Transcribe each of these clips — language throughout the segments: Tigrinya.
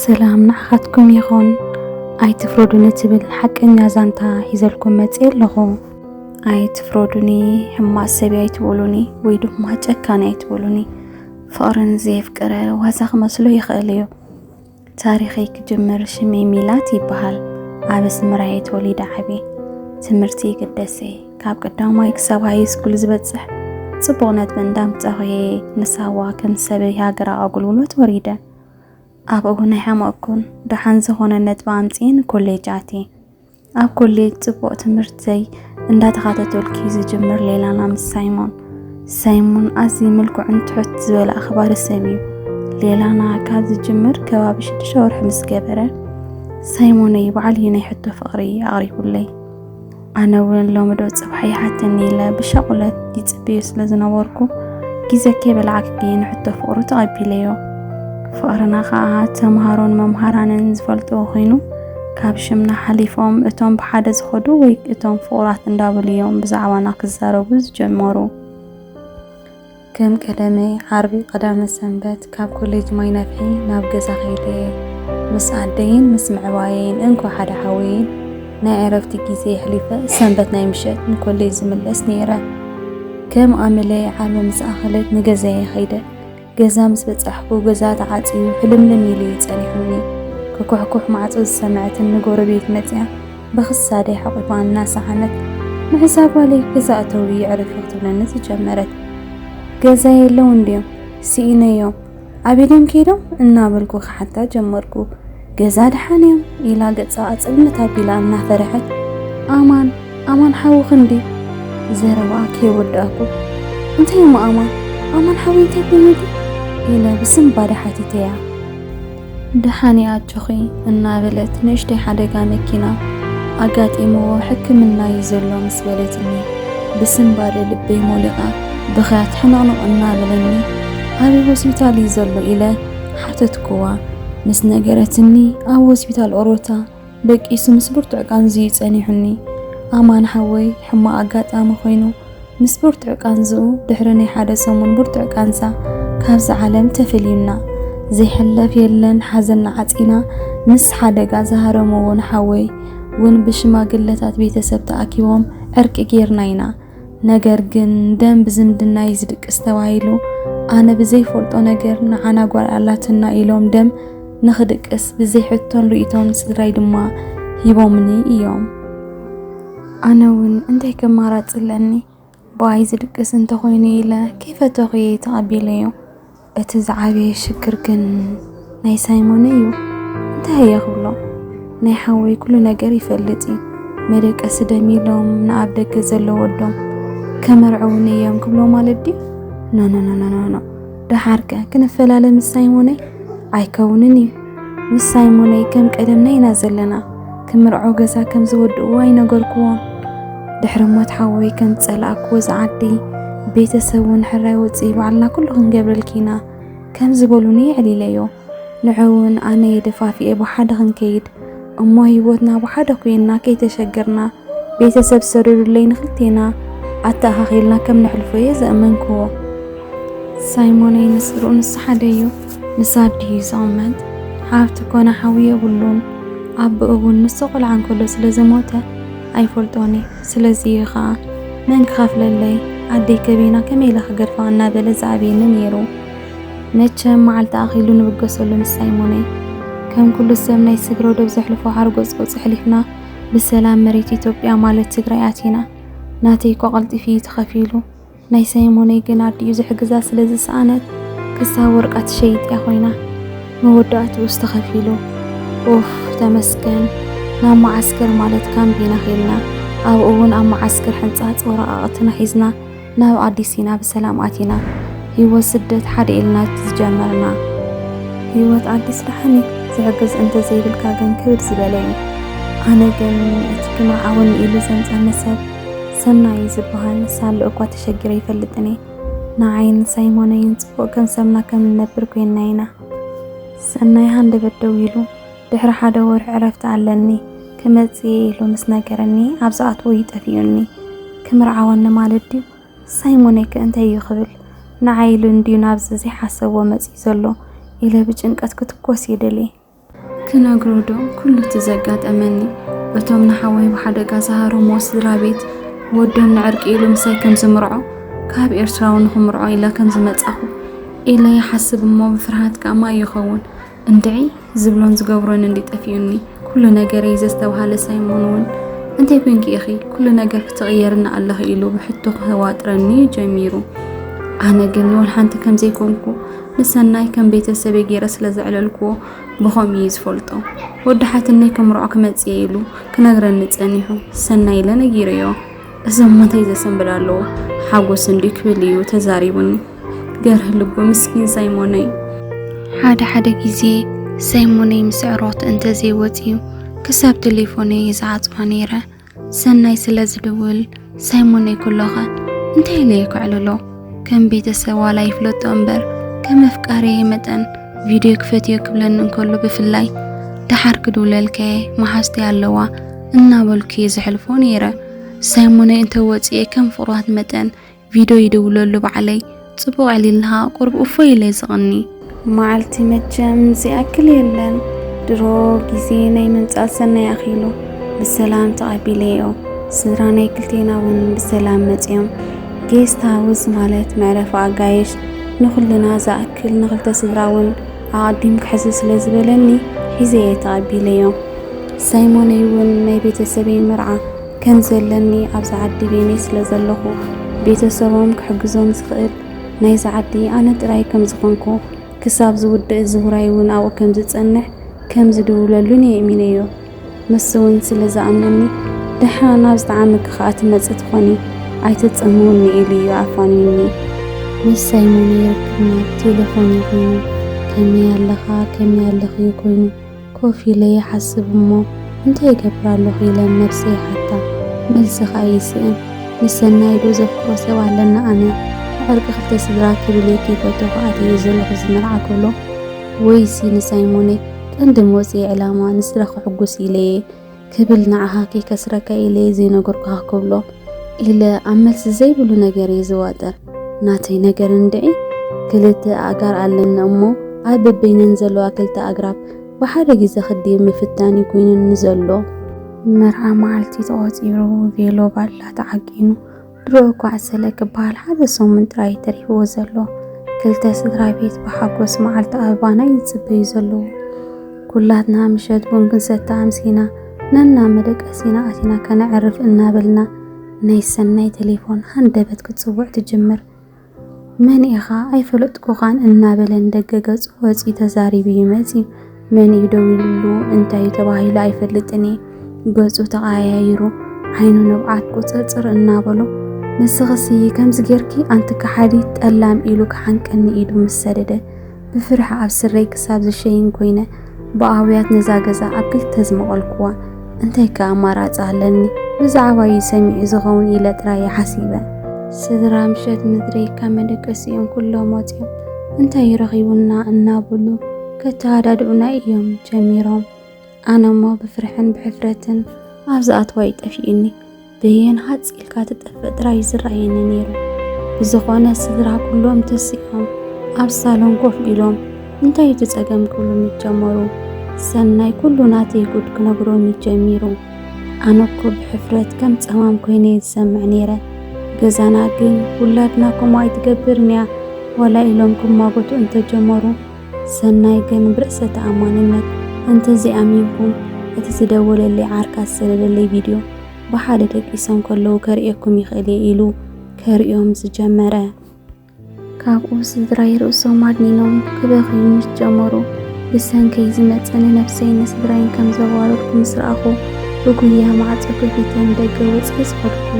ሰላም ንዓኻትኩም ይኹን ኣይትፍረዱኒ ትብል ሓቀኛ ዛንታ ሒዘልኩም መፅእ ኣለኹ ኣይትፍረዱኒ ሕማቅ ሰብ ኣይትበሉኒ ወይ ድማ ጨካን ኣይትበሉኒ ፍቕርን ዘየፍቀረ ዋዛ ክመስሎ ይኽእል እዩ ታሪኸይ ክጅምር ሽመይ ሚላት ይበሃል ኣብ ኣስመራየ ተወሊደ ዓብየ ትምህርቲ ግደሰ ካብ ቀዳማይ ክሳብ ሃይ ስኩል ዝበፅሕ ፅቡቕ ነጥቢ እንዳምፃኹየ ንሳዋ ከም ሰበይ ሃገራዊ ኣገልግሎት ወሪደ ኣብኡ ናይ ሓመቕኩን ደሓን ዝኾነ ነጥቢ ኣምፅኤ ንኮሌጅ ኣትየ ኣብ ኮሌጅ ጽቡቕ ትምህርተይ እንዳተኻተተልኩ ዝጅምር ሌላና ምስ ሳይሞን ሳይሞን ኣዝዩ ምልኩዕን ትሑት ዝበለ ኣኽባሪ ሰብ እዩ። ሌላና ካብ ዝጅምር ከባቢ ሽዱሽተ ወርሒ ምስ ገበረ ሳይሞነይ በዓል እዩ ናይ ሕቶ ፍቕሪ ኣቕሪቡለይ። ኣነ እውን ሎሚ ዶ ጽባሕ ይሓተኒ ኢለ ብሻቑለት ይጽብዮ ስለ ዝነበርኩ ግዜ ከይበላዕክ ግን ሕቶ ፍቕሩ ተቐቢለዮ። ፍቕርና ከዓ ተምሃሮን መምሃራንን ዝፈልጥዎ ኮይኑ ካብ ሽምና ሓሊፎም እቶም ብሓደ ዝኸዱ ወይ እቶም ፍቑራት እንዳበሉ እዮም ብዛዕባና ክዛረቡ ዝጀመሩ። ከም ቀደመይ ዓርቢ ቀዳመ ሰንበት ካብ ኮሌጅ ማይ ነፍሒ ናብ ገዛ ከይደ ምስ ኣደይን ምስ ምዕባየይን እንኮ ሓደ ሓወይን ናይ ዕረፍቲ ግዜ የሕሊፈ ሰንበት ናይ ምሸት ንኮሌጅ ዝምለስ ነይረ። ከም ኣመለይ ዓርቢ ምስ ኣኸለት ንገዛየ ከይደ ገዛ ምስ በጻሕኩ ገዛ ተዓጽዩ ሕልምልም ኢሉ እዩ ጸኒሑኒ። ክኩሕኩሕ ማዕጾ ዝሰምዐትኒ ጎረቤት መጺኣ ብኽሳደይ ሓቝፋ እናሰሓመት ምሕሳ ጓለይ ገዛ እተዊ የዕርፊ ክትብለኒ ዝጀመረት። ገዛ የለውን ድዮም? ስኢነዮም? ኣብ ኢዶም ከይዶም? እናበልኩ ክሓታ ጀመርኩ። ገዛ ድሓን እዮም ኢላ ገጻ ጽልምት ኣቢላ እናፈርሐት፣ ኣማን ኣማን ሓውኺ እንድዩ ዘረባኣ ከይወዳእኩ፣ እንታይ እሞ ኣማን ኣማን ሓወይ እንታይ ኮይኑሉ ኢለ ብስንባደ ሓቲተያ። ድሓን እየ ኣጆኺ እናበለት ንእሽተይ ሓደጋ መኪና ኣጋጢምዎ ሕክምና እዩ ዘሎ ምስ በለትኒ ብስንባደ ልበይ ሞሊቓ ብኽያት ሕንቕንቕ እናበለኒ ኣበይ ሆስፒታል እዩ ዘሎ ኢለ ሓተትኩዋ። ምስ ነገረትኒ ኣብ ሆስፒታል ኦሮታ ደቂሱ ምስ ብርቱዕ ቃንዝ'ዩ ጸኒሑኒ። ኣማን ሓወይ ሕማቕ ኣጋጣሚ ኮይኑ ምስ ብርቱዕ ቃንዝኡ ድሕሪ ናይ ሓደ ሰሙን ብርቱዕ ቃንዛ ካብዛ ዓለም ተፈልዩና። ዘይሕለፍ የለን ሓዘንና ዓጺና ምስ ሓደጋ ዝሃረመ'ውን ሓወይ ውን ብሽማግለታት ቤተሰብ ተኣኪቦም ዕርቂ ጌርና ኢና። ነገር ግን ደም ብዝምድና እዩ ዝድቅስ ተባሂሉ ኣነ ብዘይፈልጦ ነገር ንዓና ጓል ኣላትና ኢሎም ደም ንኽድቅስ ብዘይ ሕቶን ርእቶን ስድራይ ድማ ሂቦምኒ እዮም ኣነ እውን እንታይ ከማራፅ ኣለኒ ብኣይ ዝድቅስ እንተኾይኑ ኢለ ከይፈተኹ እየ ተቐቢለዮ እቲ ዝዓበየ ሽግር ግን ናይ ሳይሞነ እዩ እንታይ እየ ክብሎ ናይ ሓወይ ኩሉ ነገር ይፈልጥ እዩ መደቀሲ ደም ኢሎም ንኣብ ደገ ዘሎ ወዶም ከመርዕውን እዮም ክብሎ ማለት ድዩ ኖኖኖኖኖ ደሓርከ ክንፈላለ ምስ ሳይሞነይ ኣይከውንን እዩ ምስ ሳይሞነይ ከም ቀደምና ኢና ዘለና። ክምርዖ ገዛ ከም ዝወድእዎ ኣይነገርክዎም። ድሕሪ ሞት ሓወይ ከም ዝጸላእክዎ ዝዓዲ ቤተሰብ እውን ሕራይ ወጽኢ ባዕልና ኩሉ ክንገብረልኪ ኢና ከም ዝበሉኒ የዕሊለዮ። ንዕውን ኣነ የደፋፊኤ ብሓደ ክንከይድ እሞ ህይወትና ብሓደ ኮይና ከይተሸገርና ቤተሰብ ሰደዱለይ ንክልቴና ኣተኣኻኺልና ከም ነሕልፎ እየ ዘእመንክዎ። ሳይሞነይ ንስርኡ ንስሓደ እዩ። ንሳ ድዩ ዝቕመጥ ሓፍቲ ኮነ ሓው የብሉን ኣቦኡ እውን ንሱ ቆልዓ እንከሎ ስለ ዝሞተ ኣይፈልጦን እዩ ስለዚ እዩ ኸኣ መን ክኸፍለለይ ኣደይ ከበይና ከመይ ኢለ ክገድፋ እናበለ ዝኣብየኒ ነይሩ መቸም መዓልቲ ኣኺሉ ንብገሰሉ ንሳይ ሞነይ ከም ኩሉ ሰብ ናይ ስግረ ዶብ ዘሕልፎ ሓርጎጽጎጽ ሕሊፍና ብሰላም መሬት ኢትዮጵያ ማለት ትግራይ ኣቲና ናተይ እኳ ቀልጢፊ እዩ ተኸፊሉ ናይ ሰይሞነይ ግን ኣዲኡ ዝሕግዛ ስለ ዝሰኣነት ክሳብ ወርቃ ትሸይጥ እያ ኮይና። መወዳእትኡስ ተኸፊሉ። ኡፍ ተመስገን ናብ መዓስከር ማለት ካምፕ ኢና ከይድና። ኣብኡ እውን ኣብ መዓስከር ሕንጻጽ ወረቓቕትና ሒዝና ናብ ኣዲስ ሲና ብሰላም ኣቲና። ህይወት ስደት ሓደ ኢልና ዝጀመርና። ህይወት ኣዲስ ደሓን እዩ፣ ዝሕግዝ እንተዘይብልካ ግን ክብድ ዝበለ እዩ። ኣነ ግን እቲ ክምርዓወኒ ኢሉ ዘምጸኒ ሰብ ሰናይ ዝብሃል ሳሎ እኳ ተሸጊረ ኣይፈልጥን እየ። ንዓይን ሳይሞነይን ጽቡቕ ገንሰብና ከም እንነብር ኰይንና ኢና። ሰናይ ሃንደበት ደው ኢሉ፣ ድሕሪ ሓደ ወርሒ ዕረፍቲ ኣለኒ፣ ክመጽእ እየ ኢሉ ምስ ነገረኒ ኣብ ዝኣትዎ እዩ ጠፊኡኒ። ክምርዓወኒ ማለት ድዩ? ሳይሞነይከ እንታይ እዩ ክብል? ንዓይ ኢሉ እንድዩ ናብዚ ዘይሓሰብዎ መጺኡ ዘሎ ኢለ ብጭንቀት ክትኰስ ይደሊ። ክነግሮ ዶ ኩሉ እቲ ዘጋጠመኒ እቶም ንሓወይ ብሓደጋ ዝሃረምዎ ስድራ ቤት ወዶም ንዕርቂ ኢሉ ምሳይ ከም ዝምርዖ ካብ ኤርትራዊ ንኽምርዖ ኢለ ከም ዝመጻኹ ኢለ ይሓስብ እሞ ብፍርሃት ከኣ ማይ ይኸውን እንድዒ ዝብሎን ዝገብሮን እንዲ ጠፊኡኒ ኩሉ ነገረይ ዘስተብሃለ ሳይሞን እውን እንታይ ኮንኪ ኢኺ ኩሉ ነገር ክትቕየርና ኣለኺ ኢሉ ብሕቶ ክህዋጥረኒ ጀሚሩ ኣነ ግን ወልሓንቲ ከም ዘይኮንኩ ንሰናይ ከም ቤተሰበይ ገይረ ስለ ዘዕለልክዎ ብኸምኡ እዩ ዝፈልጦ። ወዲ ሓትነይ ክምርዖ ክመጽእ እየ ኢሉ ክነግረኒ ጸኒሑ ሰናይ ኢለ ነጊረዮ። እዞም ሞተይ ዘሰንብድ ኣለዎ ሓጎስ እንድዩ ክብል እዩ ተዛሪቡኒ። ገርህ ልቡ ምስኪን ሳይሞነይ። ሓደ ሓደ ግዜ ሳይሞነይ ምስ ዕሮክቲ እንተዘይወጽዩ ክሳብ ቴሌፎነይ እየ ዝዓጽዋ ነይረ። ሰናይ ስለ ዝድውል ሳይሞነይ ኩሎኸ እንታይ ኢለ ይክዕልሎ ከም ቤተሰብ ዋላ ይፍለጦ እምበር ከም መፍቃሪየ መጠን ቪድዮ ክፈትዮ ክብለኒ እንከሎ ብፍላይ ደሓር ክድውለልከየ መሓዝተይ ኣለዋ እናበልኩ እየ ዘሕልፎ ነይረ ሳይሞነይ እንተወፅኤ ከም ፍቕራት መጠን ቪድዮ ይድውለሉ ባዕለይ ጽቡቕ ኣዕሊልሃ ቁርብ እፎይ ኢለ ዝቕኒ መዓልቲ መቸም ዝኣክል የለን ድሮ ግዜ ናይ ምንጻል ሰናይ ኣኺሉ ብሰላም ተቐቢለዮ ስድራ ናይ ክልቴና እውን ብሰላም መጽዮም ጌስት ሃውስ ማለት መዕረፊ ኣጋይሽ ንኹልና ዝኣክል ንኽልተ ስድራ እውን ኣቐዲም ክሕዝ ስለ ዝበለኒ ሒዘ እየ ተቐቢለዮ ሳይሞነይ እውን ናይ ቤተሰበይ መርዓ ከም ዘለኒ ኣብዛ ዓዲ ቤኔ ስለ ዘለኹ ቤተሰቦም ክሕግዞም ዝኽእል ናይዛ ዓዲ ኣነ ጥራይ ከም ዝኾንኩ ክሳብ ዝውድእ እዚ ውራይ እውን ኣብኡ ከም ዝጸንሕ ከም ዝድውለሉን እየ እሚነዮ ምስ እውን ስለ ዝኣምነኒ ደሓ ናብ ዝጠዓመኪ ከኣ ትመጽእ ትኾኒ ኣይተጸምውኒ ኢሉ እዩ ኣፋንዩኒ ምስ ሳይሞን ይርክብና ቴሌፎን ይኹኑ ከመይ ኣለኻ ከመይ ኣለኺ ኮይኑ ኮፍ ኢለ ይሓስብ እሞ እንታይ ይገብር ኣሎኹ ኢለ ንነብሰይ ይሓታ። መልሲ ከኣ ይስእን። ንሰናይዶ ዘፍቅሮ ሰብ ኣለና ኣነ? ንዕርቂ ክልተ ስድራ ክብል እየ ከይፈተኹ ኣትየዮ ዘለኹ እዚ መርዓ ክብሎ። ወይሲ ንሳይሞነይ ቀንዲ መውጽኢ ዕላማ ንስድራ ከሕጉስ ኢለ እየ። ክብል ንዓኻ ከይከስረካ ኢለ እየ ዘይነገርኩኻ ክብሎ ኢለ ኣብ መልሲ ዘይብሉ ነገር እየ ዝዋጠር። ናተይ ነገር እንድዒ ክልተ ኣእጋር ኣለኒ እሞ ኣብ በበይነን ዘለዋ ክልተ ኣግራብ ብሓደ ግዘ ክድይብ ምፍታን እዩ ኮይኑኒ ዘሎ። መርዓ መዓልቲ ተቖፂሩ ቬሎ ባላ ተዓቂኑ ድሮ እኳ ዕሰለ ክበሃል ሓደ ሰሙን ጥራይ እዩ ተሪፍዎ ዘሎ። ክልተ ስድራ ቤት ብሓጎስ መዓልቲ ኣበባና እዩ ዝጽበዩ ዘለዉ። ኩላትና ምሸት ቡን ክንሰቲ ኣምሲና ነናብ መደቀሲና ኣቲና ከነዕርፍ እናበልና ናይ ሰናይ ተሌፎን ሃንደበት ክትጽውዕ ትጅምር። መን ኢኻ ኣይፈለጥኩኻን እናበለ ንደገ ገጹ ወጺኡ ተዛሪቡ ይመጺ። መን እዩ ደዊሉሉ እንታይ እዩ ተባሂሉ ኣይፈልጥን እየ። ገጹ ተቐያይሩ ዓይኑ ንብዓት ቁጽርጽር እናበሎ ንስኽሲ ከምዚ ጌርኪ ኣንቲ ከሓዲት ጠላም ኢሉ ክሓንቀኒ ኢዱ ምስ ሰደደ ብፍርሒ ኣብ ስረይ ክሳብ ዝሸይን ኮይነ ብኣውያት ነዛ ገዛ ኣብ ክልተ ዝመቐልኩዋ። እንታይ ከ ኣማራጺ ኣለኒ? ብዛዕባ'ዩ ሰሚዑ ዝኸውን ኢለ ጥራይ'የ ሓሲበ። ስድራ ምሸት ምድሪ ካብ መደቀሲኦም ኩሎም ወጺኦም እንታይ ረኺቡና እናበሉ ከተሃዳድኡና እዮም ጀሚሮም። ኣነ'ሞ ብፍርሕን ብሕፍረትን ኣብ ዝኣትዋ'ዩ ጠፊኡኒ። በየን ሃጽ ኢልካ ትጠፍእ ጥራይ እዩ ዝረኣየኒ ነይሩ። ብዝኾነ ስድራ ኩሎም ተሲዖም ኣብ ሳሎን ኮፍ ኢሎም እንታይ እዩ እቲ ጸገም ክብሉ ምጀመሩ ሰናይ ኩሉ ናተይ ጉድ ክነግሮኒ ጀሚሩ። ኣነ እኮ ብሕፍረት ከም ጸማም ኮይነ እየ ዝሰምዕ ነይረ። ገዛና ግን ውላድና ከምኡ ኣይትገብርን እያ ዋላ ኢሎም ክማጎቱ እንተጀመሩ ሰናይ ግን ብርእሰ ተኣማንነት እንተዘይኣሚንኩም እቲ ዝደወለለይ ዓርካ ዝሰደደለይ ቪድዮ ብሓደ ደቂሶም ከለዉ ከርእየኩም ይኽእል እየ ኢሉ ከርእዮም ዝጀመረ። ካብኡ ስድራይ ርእሶም ኣድኒኖም ክበኽዩ ምስ ጀመሩ ብሰንከይ ዝመፀ ንነብሰይ ንስድራይን ከም ዘዋረድኩ ምስ ረኣኹ ብጉያ ማዕፆ ከፊተ ንደገ ወፅየ ዝኸድኩ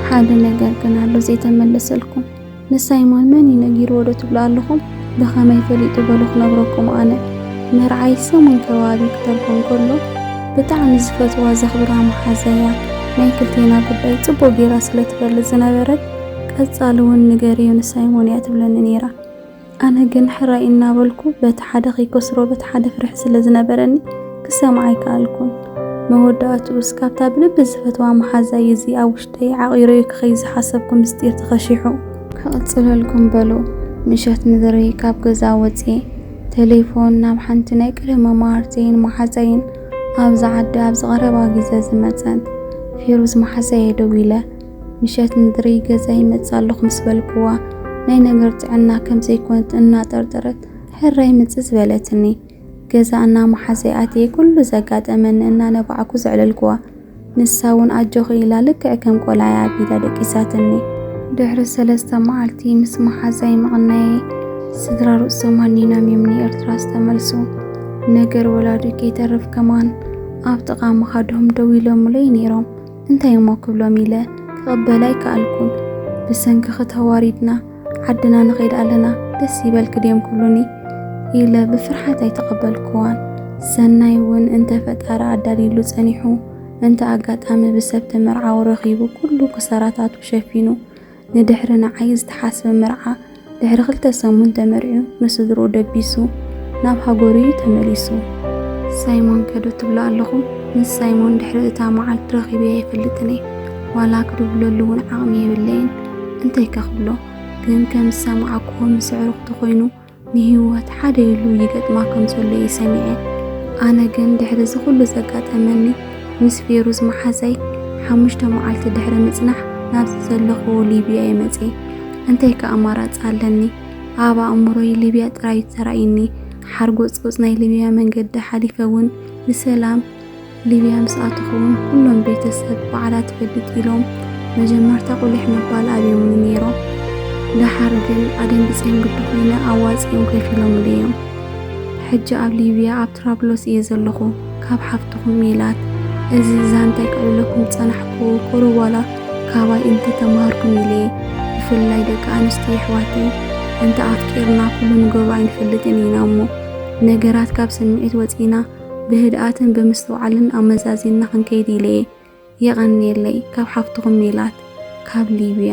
ሓደ ነገር ግን ኣሎ ዘይተመለሰልኩም ንሳይሞን መን እዩ ነጊርዎ ዶ ትብሉ ኣለኹም? ብኸመይ ፈሊጡ በሉ ክነግረኩም ኣነ። መርዓይ ሰሙን ከባቢ ክተርጎም ከሎ ብጣዕሚ ዝፈትዋ ዘኽብራ መሓዛያ ናይ ክልቴና ጉዳይ ጽቡቕ ጌራ ስለ ትፈልጥ ዝነበረት ቀጻሊ ውን ንገርዮ ንሳይሞን እያ ትብለኒ ኔራ። ኣነ ግን ሕራይ እናበልኩ በቲ ሓደ ከይከስሮ በቲ ሓደ ፍርሒ ስለ ዝነበረኒ ክሰምዓ ኣይከኣልኩን። መወዳእትኡስ ካብታ ብልቢ ዝፈትዋ መሓዛይ እዚ ኣብ ውሽጠይ ዓቚረዮ ክኸይድ ዝሓሰብኩ ምስጢር ተኸሺሑ። ክቕጽለልኩም በሉ ምሸት ምድሪ ካብ ገዛ ወጺኤ ተሌፎን ናብ ሓንቲ ናይ ቀደም መማህርተይን መሓዛይን ኣብዛ ዓዲ ኣብዚ ቀረባ ግዜ ዝመጸት ፌሩዝ መሓዛየ ደዊለ፣ ምሸት ንድሪ ገዛ ይመጽእ ኣለኹ ምስ በልክዋ ናይ ነገር ጥዕና ከም ዘይኮነት እናጠርጠረት ሕራይ ምጽእ ዝበለትኒ ገዛ እናመሓዘይ ኣትየ ኩሉ ዘጋጠመኒ እናነባዕኩ ዘዕለልክዋ ንሳ እውን ኣጆኺ ኢላ ልክዕ ከም ቆልዓይ ኣቢዳ ደቂሳትኒ። ድሕሪ ሰለስተ መዓልቲ ምስ መሓዛይ ምቕናየ ስድራ ርእሶም ሃኒኖም እዮም ንኤርትራ ዝተመልሱ። ነገር ወላዲ ከይተርፍ ከማን ኣብ ጥቓ መኻድሆም ደው ኢሎምለይ ነይሮም። እንታይ እሞ ክብሎም ኢለ ክቕበል ኣይከኣልኩን። ብሰንክኺ ተዋሪድና ዓድና ንኸይድ ኣለና ደስ ይበልኪ ድዮም ክብሉኒ ኢለ ብፍርሓት ኣይተቐበልኩዋን። ሰናይ እውን እንተ ፈጣሪ ኣዳልዩሉ ጸኒሑ እንተ ኣጋጣሚ ብሰብ ተመርዓዊ ረኺቡ ኩሉ ክሳራታቱ ሸፊኑ ንድሕሪ ንዓይ ዝተሓስበ መርዓ ድሕሪ ክልተ ሰሙን ተመርዕዩ ንስድርኡ ደቢሱ ናብ ሃገሩ እዩ ተመሊሱ። ሳይሞን ከ ዶ ትብሉ ኣለኹም? ምስ ሳይሞን ድሕሪ እታ መዓልቲ ረኺበዮ ኣይፈልጥን እየ። ዋላ ክድውለሉ እውን ዓቕሚ የብለይን። እንታይከ ክብሎ? ግን ከም ዝሰማዕኩዎ ምስ ኣዕሩኽቱ ኮይኑ ንህይወት ሓደ ኢሉ ይገጥማ ከም ዘሎ እየ ሰሚዐ። ኣነ ግን ድሕሪ እዚ ኩሉ ዘጋጠመኒ ምስ ፌሩዝ መሓዛይ ሓሙሽተ መዓልቲ ድሕሪ ምጽናሕ ናብዚ ዘለኹዎ ሊብያ እየ መጺኤ። እንታይ ከ ኣማራጺ ኣለኒ? ኣብ ኣእምሮይ ሊብያ ጥራይ እዩ ተራእዩኒ። ሓርጎጽጎጽ ናይ ሊብያ መንገዲ ሓሊፈ እውን ንሰላም፣ ሊብያ ምስ ኣተኹ'ውን ኩሎም ቤተሰብ በዓላት ትፈልጥ ኢሎም መጀመርታ ቁሊሕ ምባል ኣብዮምኒ ነይሮም። ደሓር ግን ኣደንጊጸዮም ግዲ ኮይነ ኣዋጺኦም ከፊሎምለይ'ዮም። ሕጂ ኣብ ሊብያ ኣብ ትራብሎስ እየ ዘለኹ ካብ ሓፍትኹም ሜላት። እዚ ዛንታይ ከዕልለኩም ዝጸናሕኩ ቁሩብ ዋላ ካባይ እንተ ተማሃርኩም ኢለ'የ። ብፍላይ ደቂ ኣንስትዮ የሕዋተይ እንተ ኣፍቂርና ኩሉ ንገብሮ ኣይንፈልጥን ኢና'ሞ ነገራት ካብ ስምዒት ወጺእና ብህድኣትን ብምስትውዓልን ኣመዛዚንና ክንከይድ ኢለ እየ። የቐንየለይ። ካብ ሓፍትኹም ሜላት ካብ ሊብያ።